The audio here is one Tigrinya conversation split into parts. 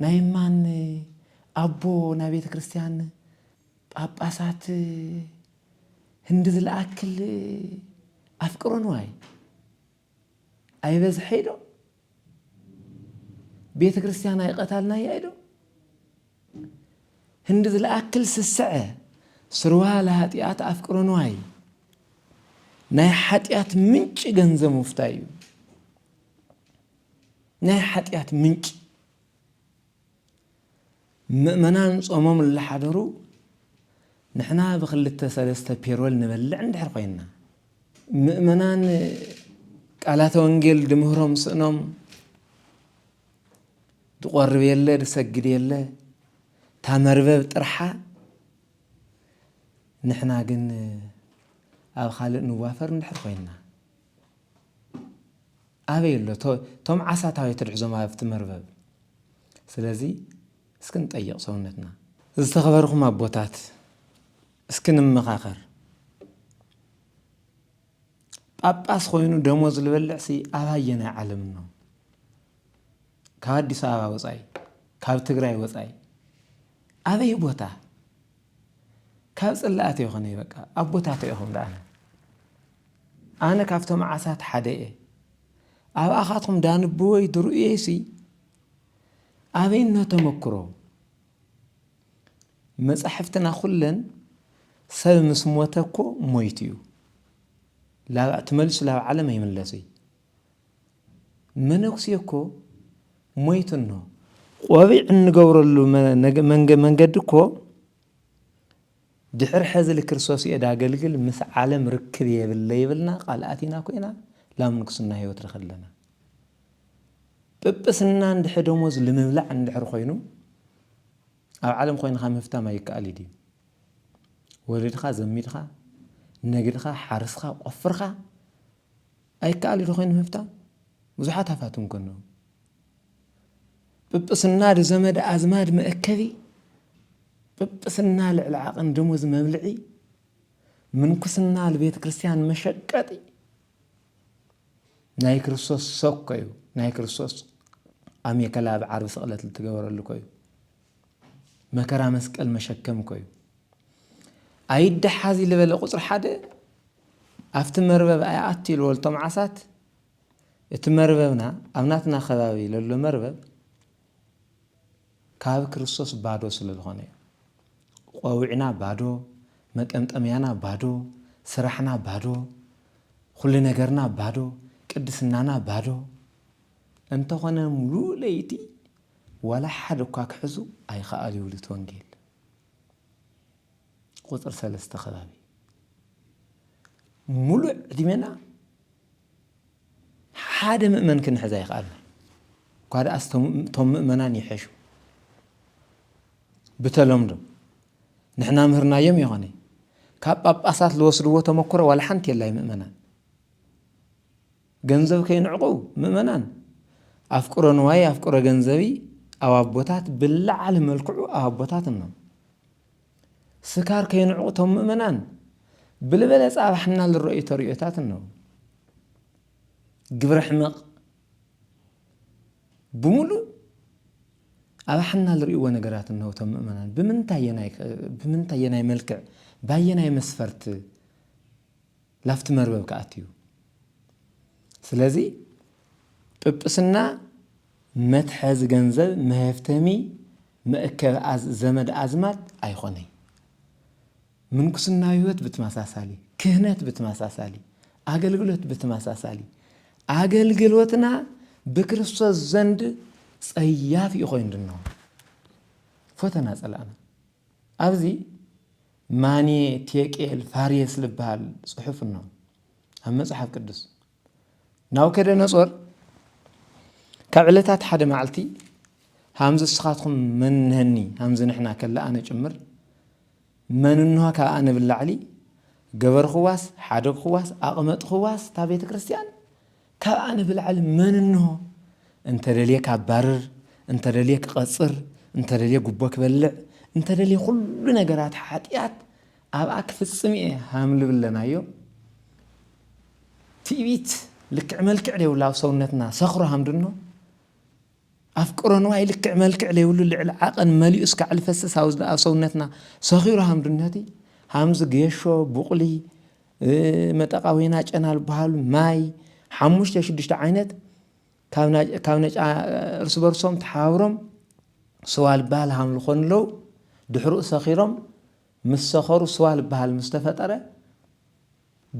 ናይ ማን ኣቦ ናይ ቤተ ክርስቲያን ጳጳሳት ህንዲ ዝለኣክል ኣፍቅሮ ንዋይ ኣይበዝሐይ ዶ ቤተ ክርስቲያን ኣይቀታልናያ ዶ ህንዲ ዝለኣክል ስስዐ ስርዋ ለሃጢኣት ኣፍቅሮ ንዋይ ናይ ሓጢኣት ምንጭ ገንዘብ ምፍታይ እዩ ናይ ሓጢኣት ምንጪ። ምእመናን ጾሞም እላሓደሩ ንሕና ብክልተ ሰለስተ ፔሮል ንበልዕ እንድሕር ኮይንና ምእመናን ቃላተ ወንጌል ድምህሮም ስእኖም ድቆርብ የለ ድሰግድ የለ እታ መርበብ ጥርሓ ንሕና ግን ኣብ ካልእ ንዋፈር እንድሕር ኮይንና ኣበይ ኣሎ ቶም ዓሳት ኣበይ ትድሕዞም ኣብቲ መርበብ ስለዚ እስኪ ንጠይቅ ሰውነትና። ዝተኸበርኹም ኣቦታት እስኪ ንመኻኸር። ጳጳስ ኾይኑ ደሞዝ ልበልዕሲ ኣብ ኣየናይ ዓለም እኖ? ካብ ኣዲስ ኣበባ ወፃኢ፣ ካብ ትግራይ ወፃኢ ኣበይ ቦታ? ካብ ጽላኣት የኮነይ በቃ ኣቦታቶ ኢኩም ዳኣነ ኣነ ካብቶም ዓሳት ሓደ እየ ኣብኣካትኩም ዳንብወይ ድርእየይ ሲ ኣበይ እኖ ተመክሮ መጻሕፍትና ኩለን ሰብ ምስ ሞተ እኮ ሞይቱ እዩ ላብ ትመልሱ ላብ ዓለም ኣይምለስይ መነኩሴ እኮ ሞይቱ እኖ ቆቢዕ እንገብረሉ መንገዲ እኮ ድሕሪ ሕዚ ልክርስቶስ እየ ዳገልግል ምስ ዓለም ርክብ የብለ ይብልና ቃል ኣቲና ኮይና ላብ ንጉስና ህይወት ንኸለና ጵጵስና እንድሕ ደሞዝ ልምብላዕ እንድሕር ኮይኑ ኣብ ዓለም ኮይንካ ምፍታም ኣይከኣል እዩ ድዩ ወለድኻ ዘሚድኻ ነግድኻ ሓርስኻ ቆፍርኻ ኣይከኣል ዶ ኮይኑ ምፍታን ብዙሓት ሃፋትም እንከለዉ ጵጵስና ዶ ዘመድ ኣዝማድ መእከቢ ጵጵስና ልዕሊ ዓቕን ደሞዝ መብልዒ ምንኩስና ልቤተ ክርስቲያን መሸቀጢ ናይ ክርስቶስ ሰኮዩ ናይ ክርስቶስ ኣሜከላ ብዓርቢ ስቕለት ልትገበረሉ ኮዩ መከራ መስቀል መሸከም እኮ እዩ። ኣይደሓዚ ልበለ ቁፅሪ ሓደ ኣብቲ መርበብ ኣይኣቱ ኢልዎ ልቶም ዓሳት እቲ መርበብና ኣብ ናትና ከባቢ ለሎ መርበብ ካብ ክርስቶስ ባዶ ስለ ዝኾነ እዩ። ቆዊዕና ባዶ፣ መጠምጠምያና ባዶ፣ ስራሕና ባዶ፣ ኩሉ ነገርና ባዶ፣ ቅድስናና ባዶ እንተኾነ ሙሉእ ለይቲ ዋላ ሓደ እኳ ክሕዙ ኣይኸኣሉ ይብሉ እቲ ወንጌል ቁፅሪ ሰለስተ ከባቢ ሙሉእ ዕድሜና ሓደ ምእመን ክንሕዝ ኣይኸኣልና እኳ ደኣስ እቶም ምእመናን ይሐሹ ብተለምዶ ንሕና ምህርናዮም ይኾነ ካብ ጳጳሳት ዝወስድዎ ተመክሮ ዋላ ሓንቲ የላይ ምእመናን ገንዘብ ከይንዕቁ ምእመናን ኣፍቅሮ ንዋይ ኣፍቅሮ ገንዘቢ ኣብ ኣቦታት ብላዓሊ መልክዑ ኣብ ኣቦታት እኖ ስካር ከይንዕቁ ቶም ምእመናን ብልበለጸ ኣብ ሓና ልረእዩ ተርእዮታት እኖ ግብረ ሕመቕ ብምሉእ ኣብ ሓና ልርእዎ ነገራት እነሆ ቶም ምእመናን ብምንታይ የናይ መልክዕ ባየናይ መስፈርት ናብቲ መርበብ ክኣቱ እዩ። ስለዚ ጵጵስና መትሐዚ ገንዘብ መሀፍተሚ መእከቢ ዘመድ ኣዝማድ ኣይኾነይ። ምንኩስናዊ ህይወት ብትማሳሳሊ፣ ክህነት ብትማሳሳሊ፣ ኣገልግሎት ብትማሳሳሊ ኣገልግሎትና ብክርስቶስ ዘንድ ጸያፍ እዩ ኮይኑ ድኖ ፎተና ጸላእና ኣብዚ ማኔ ቴቄል ፋሬስ ልበሃል ጽሑፍ እኖ ኣብ መጽሓፍ ቅዱስ ናቡከደነጾር ካብ ዕለታት ሓደ መዓልቲ ሃምዚ እስኻትኩም መን ንህኒ ሃምዚ ንሕና ከላ ኣነ ጭምር መን እንሆ ካብ ኣነ ብላዕሊ ገበርኽዋስ ሓደግኽዋስ ኣቕመጥኽዋስ እታ ቤተ ክርስቲያን ካብ ኣነ ብላዕሊ መን እንሆ? እንተደልየ ካባርር፣ እንተደልየ ክቐጽር፣ እንተደልየ ጉቦ ክበልዕ፣ እንተደልየ ኩሉ ነገራት ሓጢኣት ኣብኣ ክፍጽም እየ ሃምልብል ኣለናዮ። ትዕቢት ልክዕ መልክዕ ደይብሉ ኣብ ሰውነትና ሰኽሩ ሃምድኖ ኣፍቅሮ ንዋይ ልክዕ መልክዕ ለይብሉ ልዕሊ ዓቐን መሊኡ እስካዕሊ ፈሰስ ኣብ ሰውነትና ሰኺሩ ሃምድነቲ ሃምዚ ጌሾ ቡቕሊ መጠቓ ወይና ጨና ዝበሃሉ ማይ ሓሙሽተ ሽዱሽተ ዓይነት ካብ ነጫ እርስ በርሶም ተሓባብሮም ስዋ ዝበሃል ሃምሉ ኮኑ ኣለዉ ድሕርኡ ሰኺሮም ምስ ሰኸሩ ስዋ ዝበሃል ምስ ተፈጠረ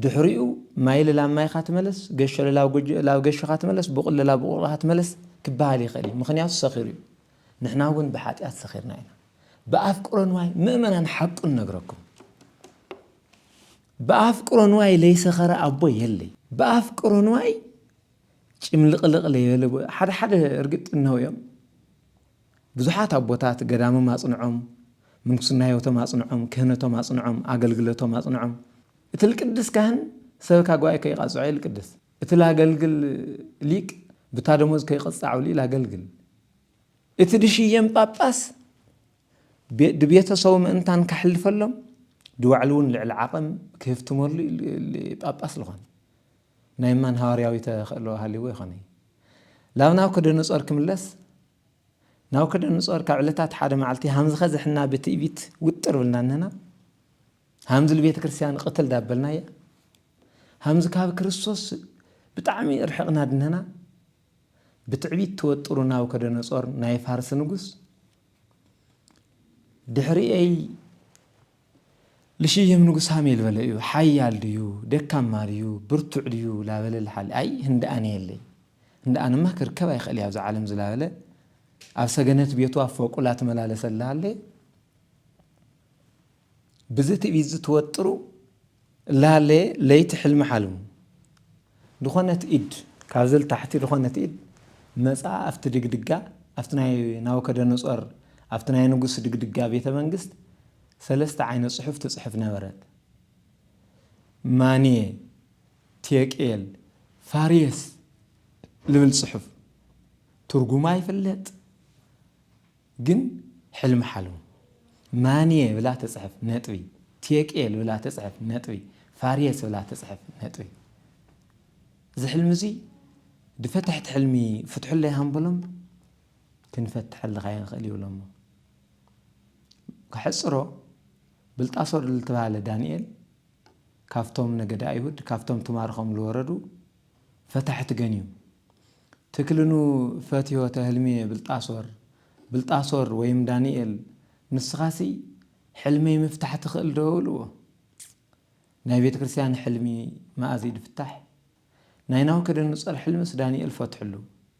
ድሕሪኡ ማይሊ ላብ ማይኻ ትመለስ፣ ገሾሊ ላብ ገሾኻ ትመለስ፣ ቡቕሊ ላብ ቡቕልኻ ትመለስ ክበሃል ይኸእል እዩ። ምክንያቱ ሰኺሩ እዩ። ንሕና እውን ብሓጢኣት ሰኺርና ኢና። ብኣፍቅሮ ንዋይ ምእመናን ሓቁ ንነግረኩም ብኣፍቅሮ ንዋይ ለይሰኸረ ኣቦ የለይ። ብኣፍቅሮ ንዋይ ጭምልቕልቕ ለይበለ ሓደ ሓደ እርግጥ እነው እዮም። ብዙሓት ኣቦታት ገዳምም ኣጽንዖም፣ ምንኩስና ሕይወቶም ኣጽንዖም፣ ክህነቶም ኣጽንዖም፣ ኣገልግለቶም ኣጽንዖም። እቲ ልቅድስ ካህን ሰበካ ጉባኤ ከይቃጽዖ ይልቅድስ፣ እቲ ላገልግል ሊቅ ብታ ደሞዝ ከይቅጻዑ ላገልግል፣ እቲ ድሽየም ጳጳስ ድቤተሰቡ ምእንታን ከሕልፈሎም ድባዕሉውን ልዕሊ ዓቕም ክህፍትመሉ ጳጳስ ልኾን። ናይ ማን ሃዋርያዊ ተኸእሎ ሃልይዎ ይኾነይ? ላብ ናብኮደነጾር ክምለስ? ናቡከደነፆር ካብ ዕለታት ሓደ መዓልቲ ሃምዝኸ ዘሕና ብትእቢት ውጥር ብልና እነና ሃምዝሉ ቤተ ክርስቲያን ቕትል ዳበልና እያ ሃምዝ ካብ ክርስቶስ ብጣዕሚ ርሕቕና ድነና ብትዕቢት ተወጥሩ ናቡከደነፆር ናይ ፋርስ ንጉስ ድሕሪኤይ ልሽይም ንጉስ ሃሜል በለ እዩ ሓያል ድዩ ደካማ ድዩ ብርቱዕ ድዩ ላበለ ልሓሊ ኣይ ህንደኣን የለይ እንዳ ኣነማ ክርከብ ኣይክእል እየ ኣብዛ ዓለም ዝላበለ ኣብ ሰገነት ቤቱ ኣብ ፎቁ ላትመላለሰ እላሃለ ብዚ ትዕቢት ዝትወጥሩ እላሃለ ለይቲ ሕልሚ ሓልሙ ዝኾነት ኢድ ካብዚ ልታሕቲ ዝኾነት ኢድ መጻ ኣብቲ ድግድጋ ኣብቲ ናይ ናቡከደነጾር ኣብቲ ናይ ንጉስ ድግድጋ ቤተ መንግስት ሰለስተ ዓይነት ጽሑፍ ትጽሕፍ ነበረት ማንየ ቴቄል፣ ፋሬስ ልብል ጽሑፍ ትርጉማ ይፍለጥ ግን ሕልሚ ሓልሙ። ማንየ ብላ ትጽሕፍ ነጥቢ ቴቄል ብላ ትጽሕፍ ነጥቢ ፋሬስ ብላ ትጽሕፍ ነጥቢ እዚ ሕልሚ እዚ ድፈተሕቲ ሕልሚ ፍትሑለይ ሃምበሎም ክንፈትሐልኻ ኣይንኽእል ይብሎሞ ከሕጽሮ ብልጣሶር ልትባሃለ ዳንኤል ካብቶም ነገደ ኣይሁድ ካብቶም ትማርኾም ልወረዱ ፈታሕት ገንዩ ትክልኑ ፈትዮ ተህልምየ ብልጣሶር ብልጣሶር ወይም ዳንኤል ንስኻሲ ሕልመይ ምፍታሕ ትኽእል ዶ እብልዎ ናይ ቤተ ክርስቲያን ሕልሚ መኣዝ ድፍታሕ ናይ ናውከደንጾር ሕልምስ ዳንኤል ፈትሕሉ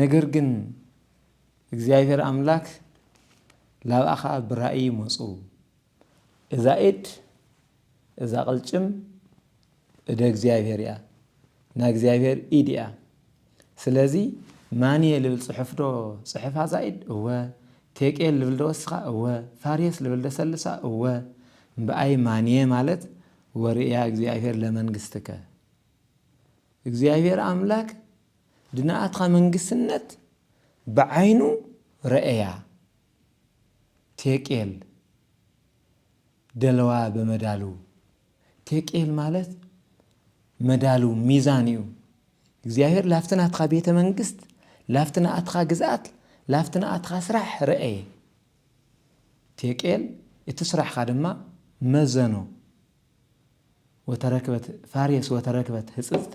ነገር ግን እግዚኣብሔር ኣምላክ ላብኣኻ ብራእይ መፁ እዛ ኢድ እዛ ቅልጭም እደ እግዚኣብሔር እያ ናይ እግዚኣብሔር ኢድ እያ ስለዚ ማንየ ልብል ፅሑፍ ዶ ፅሕፍ ኣዛ ኢድ እወ ቴቄል ልብል ዶ ወስኻ እወ ፋሬስ ልብል ዶ ሰልሳ እወ እምበኣይ ማንየ ማለት ወርእያ እግዚኣብሔር ለመንግስትከ እግዚኣብሔር ኣምላክ ድናኣትካ መንግስትነት ብዓይኑ ረኤያ ቴቄል ደለዋ በመዳልው ቴቄል ማለት መዳልው ሚዛን እዩ እግዚኣብሔር ላፍቲ ናትካ ቤተ መንግስት ላፍቲ ናኣትካ ግዝኣት ላፍቲ ናኣትካ ስራሕ ረኤየ ቴቄል እቲ ስራሕካ ድማ መዘኖ ወተረክበት ፋሬስ ወተረክበት ህፅፅተ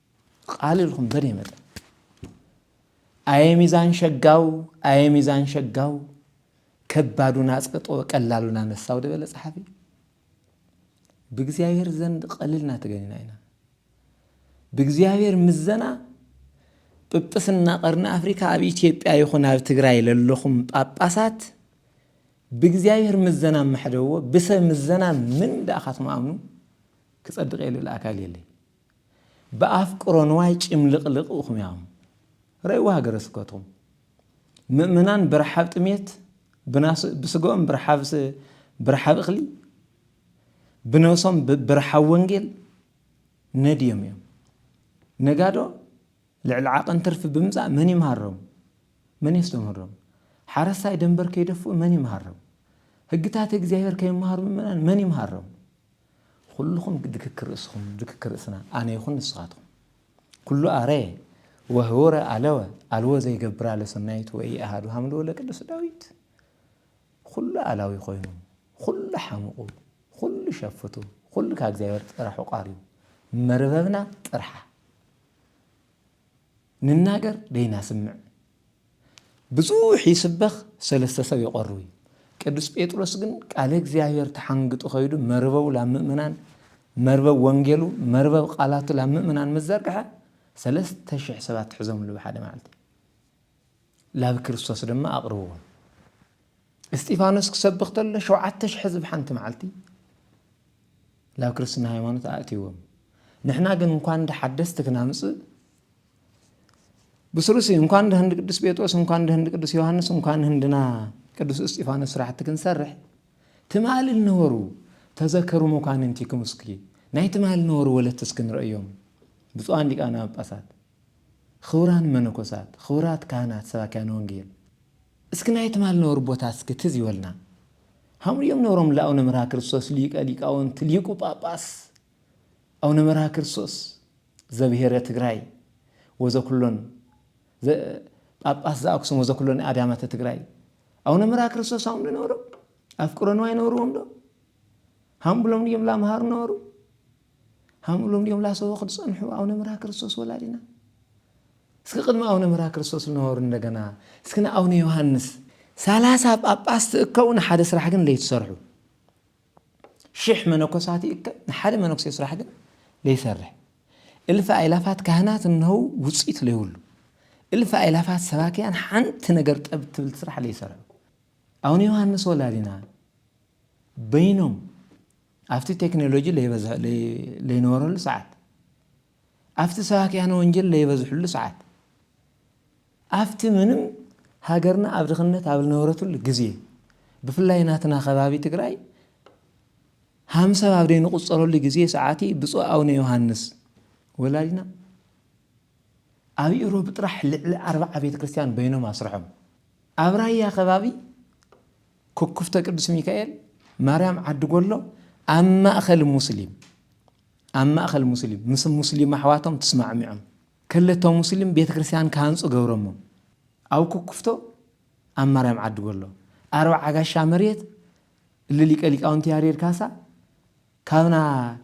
ቃል ኢልኩም በደይ መጠን ኣየ ሚዛን ሸጋው ኣየ ሚዛን ሸጋው ከባዱን ኣጽቅጦ ቀላሉን ኣነሳው ደበለ ጸሓፊ ብእግዚኣብሔር ዘንድ ቀልልና ተገኒና ኢና ብእግዚኣብሔር ምዘና ጵጵስና ቀርኒ ኣፍሪካ ኣብ ኢትዮጵያ ይኹን ኣብ ትግራይ ለለኹም ጳጳሳት ብእግዚኣብሔር ምዘና መሕደዎ ብሰብ ምዘና ምን ዳኣኻትም ኣምኑ ክጸድቕ የልብል ኣካል የለይ ብኣፍቅሮ ንዋይ ጭምልቕልቕ ኢኹም ኢኹም ረእይዋ ሃገረ ስብከትኩም ምእመናን ብረሓብ ጥሜት ብስግኦም ብረሓብ እኽሊ ብነብሶም ብረሓብ ወንጌል ነድዮም እዮም ነጋዶ ልዕሊ ዓቐን ትርፊ ብምጻእ መን ይምሃሮም? መን የስተምህሮም? ሓረስታይ ደንበር ከይደፍኡ መን ይምሃሮም? ህግታት እግዚኣብሔር ከይምሃሩ ምእመናን መን ይምሃሮም? ኹሉኹም ድክክ ርእስኹም ድክክ ርእስና ኣነ ይኹን ንስኻትኹም ኩሉ ኣረየ ወህወረ ኣለወ ኣልወ ዘይገብራ ለሰናይት ወይ ኣሃዱ ሃምሉ ወለ ቅዱስ ዳዊት ኹሉ ኣላዊ ኮይኑ ኹሉ ሓምቑ ኹሉ ሸፍቱ ኹሉ ካብ እግዚኣብሔር ጥራሕ ቋርዩ መርበብና ጥርሓ ንናገር ደይናስምዕ ብዙሕ ይስበኽ ሰለስተ ሰብ ይቆርብ እዩ። ቅዱስ ጴጥሮስ ግን ቃለ እግዚኣብሔር ተሓንግጡ ከይዱ መርበቡ ላብ ምእመናን መርበብ ወንጌሉ መርበብ ቃላቱ ላብ ምእመናን ምዘርግሐ ሰለስተ ሽሕ ሰባት ትሕዞምሉ ብሓደ መዓልቲ ላብ ክርስቶስ ድማ ኣቕርብዎም። እስጢፋኖስ ክሰብኽ ተሎ ሸውዓተ ሽሕ ህዝቢ ሓንቲ መዓልቲ ላብ ክርስትና ሃይማኖት ኣእትዎም። ንሕና ግን እንኳን እንደ ሓደስቲ ክናምጽእ ብስሉሲ እንኳን እንደ ህንዲ ቅዱስ ጴጥሮስ እንኳን እንደ ህንዲ ቅዱስ ዮሐንስ እንኳን ህንድና ቅዱስ እስጢፋኖስ ስራሕቲ ክንሰርሕ ትማሊ ነበሩ ተዘከሩ መኳንንቲኩም እስኪ ናይ ትማሊ ነበሩ ወለትስ ክንርእዮም ብፁዓን ሊቃነ ጳጳሳት ኽቡራን መነኮሳት፣ ኽቡራት ካህናት ሰባክያነ ወንጌል፣ እስኪ ናይ ትማል ነበሩ ቦታ እስኪ ትዝ ይበሉና። ሃምኡ እዮም ነብሮም ለኣውነ መርሃ ክርስቶስ ሊቀ ሊቃውንት ሊቁ ጳጳስ ኣውነ መርሃ ክርስቶስ ዘብሔረ ትግራይ ወዘኩሎን ጳጳስ ዘኣክሱም ወዘኩሎን ኣድያማተ ትግራይ ኣውነ መርሃ ክርስቶስ ሃምኡ ነበሮም ኣፍቅሮ ንዋይ ነበርዎም ዶ ሃምኡ ብሎም እዮም ላምሃሩ ነበሩ ሃምእሎም ድዮም ላሰቦ ክትጸንሑ ኣውነ ምራ ክርስቶስ ወላዲና እስኪ ቅድሚ ኣውነ ምራ ክርስቶስ ልነበሩ እንደገና እስኪ ንኣውነ ዮሃንስ ሰላሳ ጳጳስ ትእከቡ ንሓደ ስራሕ ግን ለይትሰርሑ ሽሕ መነኮሳት ይእከብ ንሓደ መነኩሴ ስራሕ ግን ለይሰርሕ እልፊ ኣይላፋት ካህናት እነው ውፅኢት ለይብሉ እልፊ ኣይላፋት ሰባኪያን ሓንቲ ነገር ጠብ ትብል ስራሕ ለይሰርሑ ኣውነ ዮሃንስ ወላዲና በይኖም ኣብቲ ቴክኖሎጂ ለይነበረሉ ሰዓት፣ ኣብቲ ሰባክያነ ወንጀል ለይበዝሕሉ ሰዓት፣ ኣብቲ ምንም ሃገርና ኣብ ድኽነት ኣብ ልነበረትሉ ግዜ፣ ብፍላይ ናትና ከባቢ ትግራይ ሃም ሰብ ኣብ ደይንቁጸረሉ ግዜ ሰዓቲ ብፁዕ ኣውነ ዮሃንስ ወላዲና ኣብ ኢሮብ ጥራሕ ልዕሊ ኣርባዓ ቤተ ክርስቲያን በይኖም ኣስርሖም ኣብ ራያ ከባቢ ኩኩፍተ ቅዱስ ሚካኤል ማርያም ዓዲ ጎሎ ኣብ ማእከል ሙስሊም ኣብ ማእከል ሙስሊም ምስ ሙስሊም ኣሕዋቶም ትስማዕሚዖም ከለቶ ሙስሊም ቤተ ክርስቲያን ክሃንጹ ገብረሞም ኣብ ኩኩፍቶ ኣብ ማርያም ዓዲ ጎሎ ኣርብዓ ጋሻ መሬት እሊ ሊቀ ሊቃውንቲ ያሬድ ካሳ ካብና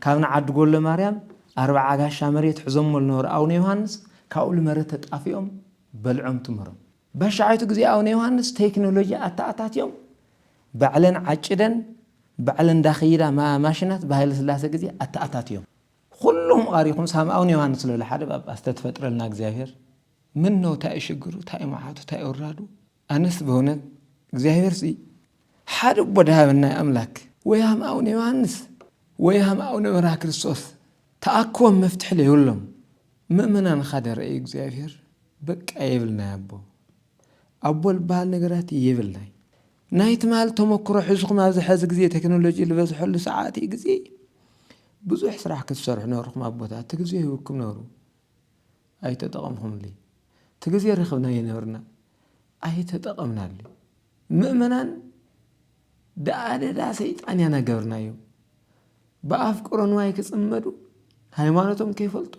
ካብና ዓዲ ጎሎ ማርያም ኣርብዓ ጋሻ መሬት ሕዞሞ ልነበሩ ኣቡነ ዮሃንስ ካብኡ ልመረተ ጣፊኦም በልዖም ትምህሮም ባሻይቱ ግዜ ኣውነ ዮሃንስ ተይክኖሎጂ ኣታኣታትዮም ባዕለን ዓጭደን ባዕለን ዳክይዳ ማሽናት ብሃይለስላሰ ግዜ ኣታኣታትዮም ኹሉኹም ቓሪኹም ሳም ኣውነ ዮሃንስ ልብል ሓደ ጳጳስ ተትፈጥረልና እግዚኣብሔር ምነው ታይ እዩ ሽግሩ ታይ እዩ መዓቱ ታይ እዩ ውራዱ ኣነስ በእውነት እግዚኣብሔርሲ ሓደ ኣቦ ዳሃበና ኣምላክ ወይ ሃም ኣውነ ዮሃንስ ወይ ሃም ኣውነ መርሃ ክርስቶስ ተኣክቦም መፍትሒ ለይብሎም ምእመናን ኻደ ረኣዩ እግዚኣብሔር በቃ የብልናይ ኣቦ ኣቦ ልበሃል ነገራት የብልናይ ናይ ትማል ተመክሮ ሕዝኹም ኣብዚ ሐዚ ግዜ ቴክኖሎጂ ዝበዝሐሉ ሰዓት እዩ ግዜ ብዙሕ ስራሕ ክትሰርሑ ነርኹም ኣቦታት እቲ ግዜ ህብኩም ነሩ ኣይተጠቐምኹምሉ እቲ ግዜ ረኽብና ይነብርና ኣይተጠቐምናሉ ምእመናን ደኣደዳ ሰይጣን ያናገብርናዮም ብኣፍቅሮ ንዋይ ክጽመዱ ሃይማኖቶም ከይፈልጡ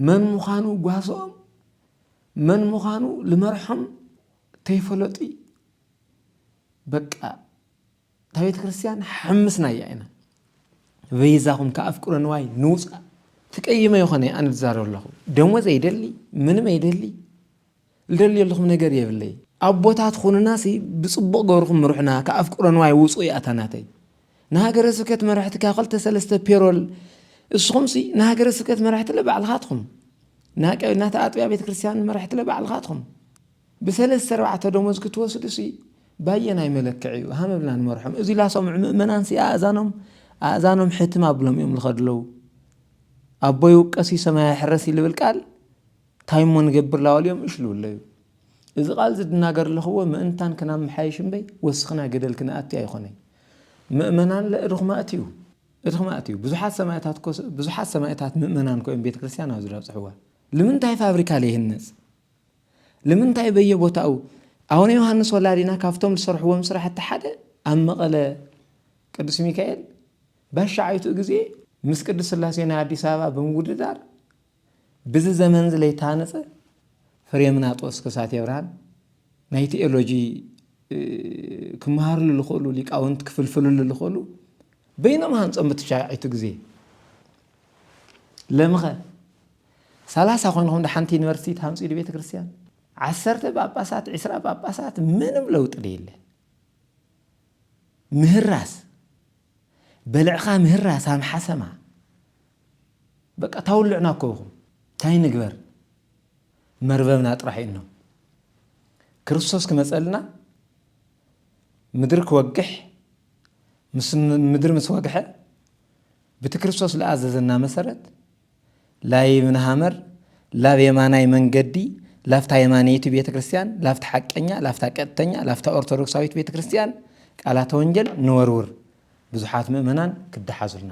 መን ምዃኑ ጓሶኦም መን ምዃኑ ልመርሖም ከይፈለጡ በቃ እታ ቤተ ክርስቲያን ሓምስናያ ኢና በይዛኹም ከኣፍቅሮ ንዋይ ንውፃእ ትቀይመ ይኾነ ኣነ ዝዛረብ ኣለኹ ደሞዝ ኣይደሊ ምንም ኣይደሊ ልደልየልኹም ነገር የብለይ ኣቦታት ኹኑና ሲ ብጽቡቅ ገርኹም ምሩሑና ካብ ኣፍቅሮ ንዋይ ውጹ እያ እታ ናተይ ንሃገረ ስብከት መራሕቲ ካብ ክልተ ሰለስተ ፔሮል እስኹም ሲ ንሃገረ ስብከት መራሕትለ ባዕልኻትኹም ናታ ኣጥቢያ ቤተ ክርስትያን መራሕትለ ባዕልኻትኹም ብሰለስተ ኣርባዕተ ደሞዝ ክትወስዱ ሲ ባየናይ መለክዕ እዩ ሃመ ብልና ንመርሖም እዚ ላሰምዑ ምእመናን ሲ ኣእዛኖም ኣእዛኖም ሕትም ኣብሎም እዮም ዝኸዱ ኣለው ኣቦይ ውቀሲ ሰማያ ሕረሲ ልብል ቃል ታይ እሞ ንገብር ላዋልዮም እሽ ልብለዩ እዚ ቃል ዝድናገር ለኽዎ ምእንታን ክናመሓይሽ እምበይ ወስኽና ገደል ክነኣቲ ኣይኾነይ መእመናን ለእድኽማእት እዩ እድኽማእት እዩ ብዙሓት ሰማእታት እኮ ብዙሓት ሰማእታት ምእመናን እኮ እዮም ቤተክርስትያን ኣብዚ ለብፅሕዋ ልምንታይ ፋብሪካ ለይህነፅ ልምንታይ በየቦታኡ ኣቡነ ዮሃንስ ወላዲና ካብቶም ዝሰርሕዎም ስራሕቲ ሓደ ኣብ መቐለ ቅዱስ ሚካኤል ባሻዓይቱ ግዜ ምስ ቅዱስ ስላሴ ናይ ኣዲስ ኣበባ ብምውድዳር ብዚ ዘመንዚ ለይታነጸ ፍሬምናጦስ ከሳቴ ብርሃን ናይ ቲኦሎጂ ክመሃርሉ ዝኽእሉ ሊቃውንት ክፍልፍልሉ ዝኽእሉ በይኖም ሃንጾም ብትሻዒቱ ግዜ ለምኸ ሰላሳ ኮንኹም ድሓንቲ ዩኒቨርሲቲ ትሃንጹ ኢሉ ቤተ ክርስቲያን ዓሰርተ ጳጳሳት ዕስራ ጳጳሳት ምንም ለውጢ ደየለ ምህራስ በልዕኻ ምህራስ ኣምሓሰማ በቃ ታውልዕና እኮ ኢኹም ታይ ንግበር መርበብና ጥራሕ እዩኖ ክርስቶስ ክመፀልና ምድሪ ክወግሕ ምስ ምድሪ ምስ ወግሐ ብቲ ክርስቶስ ለኣዘዘና መሰረት ላይ ምንሃመር ላብ የማናይ መንገዲ ላፍታ የማነይቲ ቤተ ክርስቲያን ላፍታ ሓቀኛ ላፍታ ቀጥተኛ ላፍታ ኦርቶዶክሳዊት ቤተ ክርስቲያን ቃላተ ወንጌል ንወርውር ብዙሓት ምእመናን ክደሓዙልና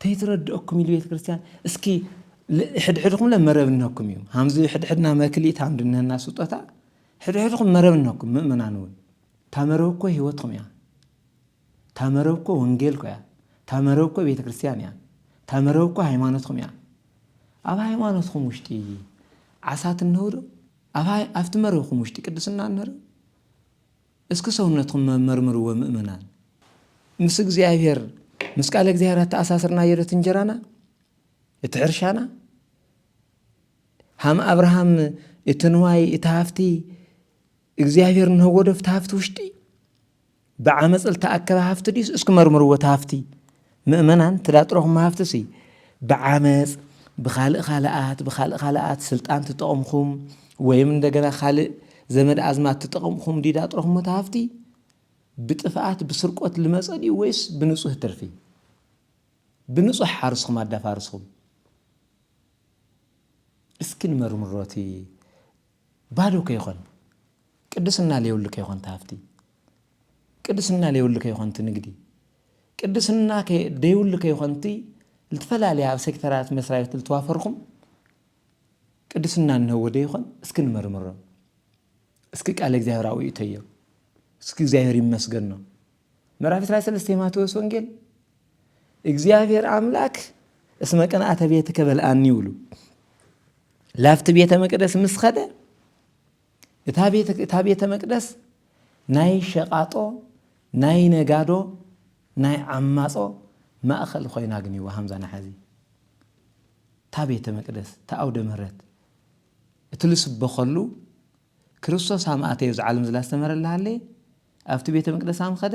ተይትረድኦኩም ኢሉ ቤት ክርስቲያን እስኪ ሕድሕድኩም ለ መረብ እነኩም እዩ ሃምዚ ሕድሕድና መክሊት ሃምድነና ስጦታ ሕድሕድኩም መረብ እነኩም ምእመናን እውን ታመረብ እኮ ህይወትኩም እያ ታመረብ እኮ ወንጌል እኮ እያ ታመረብ እኮ ቤተ ክርስቲያን እያ ታመረብ እኮ ሃይማኖትኩም እያ ኣብ ሃይማኖትኩም ውሽጢ ዓሳት እነውዶ ኣብቲ መረብኩም ውሽጢ ቅድስና እነርብ እስኪ ሰውነትኩም መርምርዎ ምእመናን። ምስ እግዚኣብሔር ምስ ቃለ እግዚኣብሔር ኣተኣሳስርናዮ ዶ እቲ እንጀራና እቲ ሕርሻና ሃም ኣብርሃም እቲ ንዋይ እቲ ሃፍቲ እግዚኣብሔር ንህቦ ዶ እቲ ሃፍቲ ውሽጢ ብዓመፅ ዝተኣከበ ሃፍቲ ድዩስ እስኪ መርምርዎ እቲ ሃፍቲ ምእመናን ትዳጥረኹም ሃፍትሲ ብዓመጽ ብኻልእ ኻልኣት ብኻልእ ኻልኣት ስልጣን ትጠቕምኹም ወይም እንደገና ኻልእ ዘመድ ኣዝማት ትጠቕምኹም ዲዳ ጥረኹም ሃፍቲ ብጥፍኣት ብስርቆት ልመጸ ድዩ ወይስ ብንጹህ ትርፊ ብንጹሕ ሓርስኹም ኣዳፋርስኹም እስኪ ንመርምሮ እቲ ባዶ ከይኾን ቅድስና ለየብሉ ከይኾን ተሃፍቲ ቅድስና ለይብሉ ከይኾንት ንግዲ ቅድስና ደይብሉ ከይኾንት ልትፈላለያ ኣብ ሴክተራት መስራቤት ልትዋፈርኹም ቅድስና እንሀዎ ደይኾን እስኪ ንመርምሮ እስኪ ቃለ እግዚኣብሔር ኣውኢተዮ እስኪ እግዚኣብሔር ይመስገኖ ምዕራፍ 23 የማቴዎስ ወንጌል እግዚኣብሔር ኣምላክ እስመ ቅንኣተ ቤትከ በልኣኒ ይብሉ ላፍቲ ቤተ መቅደስ ምስ ኸደ እታ ቤተ መቅደስ ናይ ሸቃጦ ናይ ነጋዶ ናይ ዓማጾ ማእኸል ኾይና ኣግኒዋ ሃምዛ ናሓዚ እታ ቤተ መቅደስ እታ ኣውደ ምህረት እቲ ልስበኸሉ ክርስቶስ ኣማእተዮ ዝዓለም ዝላስተመረላ ሃለየ ኣብቲ ቤተ መቅደስ ኣምኸደ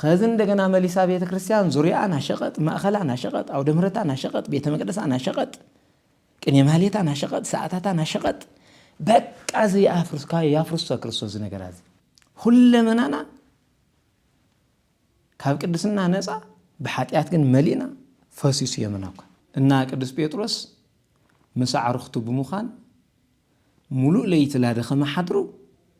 ኸዚ እንደገና መሊሳ ቤተ ክርስቲያን ዙሪያኣ ናሸቐጥ፣ ማእኸላ ናሸቐጥ፣ ኣውደ ምሕረታ ናሸቐጥ፣ ቤተ መቅደሳ ናሸቐጥ፣ ቅኔ ማህሌታ ናሸቐጥ፣ ሰዓታታ ናሸቐጥ፣ በቃ እዚ የኣፍርስ ካብ ያፍርሶ ክርስቶስ እዚ ነገራ እዚ ሁለመናና ካብ ቅድስና ነፃ ብሓጢኣት ግን መሊእና ፈሲሱ የመና እኳ እና ቅዱስ ጴጥሮስ ምስ ኣዕርኽቱ ብምዃን ሙሉእ ለይቲ ላደኸመ ሓድሩ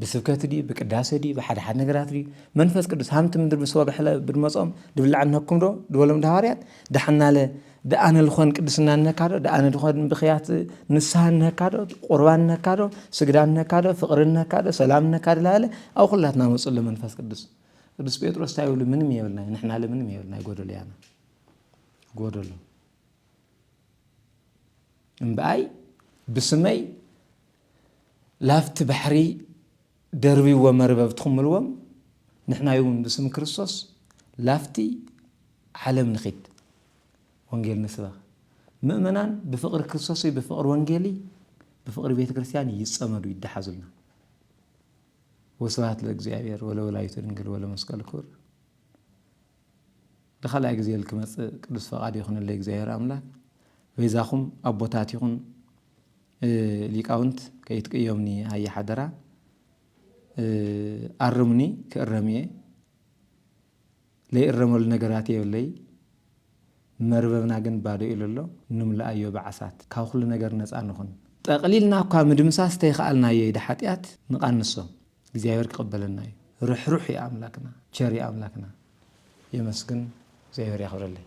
ብስብከት ድዩ ብቅዳሴ ድዩ ብሓደ ሓደ ነገራት ድዩ መንፈስ ቅዱስ ሃምቲ ምድር ምስ ወገሕለ ብድመጾም ድብላዕ ነኩም ዶ ድበሎም ድሃዋርያት ዳሓናለ ደኣነ ልኾን ቅድስና ነካ ዶ ደኣነ ድኾን ብክያት ንስሃ ነካ ዶ ቁርባን ነካ ዶ ስግዳ ነካ ዶ ፍቅሪ ነካ ዶ ሰላም ነካ ዶ ላለ ኣብ ኩላትና መጽሎ መንፈስ ቅዱስ ቅዱስ ጴጥሮስ እንታይ ይብሉ ምንም የብልና ንሕና ለ ምንም የብልና ጎደሎ ያና ጎደሎ እምብኣይ ብስመይ ላፍቲ ባሕሪ ደርብይዎ መርበብትኹም እልዎም፣ ንሕናይውን ብስም ክርስቶስ ላፍቲ ዓለም ንኺድ ወንጌል ንስበኽ። ምእመናን ብፍቕሪ ክርስቶስይ ብፍቕሪ ወንጌልይ ብፍቕሪ ቤተ ክርስቲያን ይጸመዱ ይደሓዙልና። ወስብሐት ለእግዚኣብሔር ወለወላዲቱ ድንግል ወለመስቀሉ ክቡር። ንካልኣይ ግዜ ክመጽእ ቅዱስ ፈቃድ ይኹነለይ እግዚኣብሔር ኣምላክ በይዛኹም ኣቦታት ይኹን ሊቃውንት ከይትቅየሙኒ ሃየ ሓደራ ኣርሙኒ ክእረም እየ ለይእረመሉ ነገራት የብለይ መርበብና ግን ባዶ ኢሉ ኣሎ ንምልኣዮ ብዓሳት ካብ ኩሉ ነገር ነፃ ንኹን ጠቕሊልና እኳ ምድምሳስ ተይኸኣልናዮ ኢደ ሓጢኣት ንቓንሶ። እግዚኣብሔር ክቅበለና እዩ ርሕሩሕ እዩ ኣምላክና ቸር እዩ ኣምላክና የመስግን እግዚኣብሔር ያክብረለይ።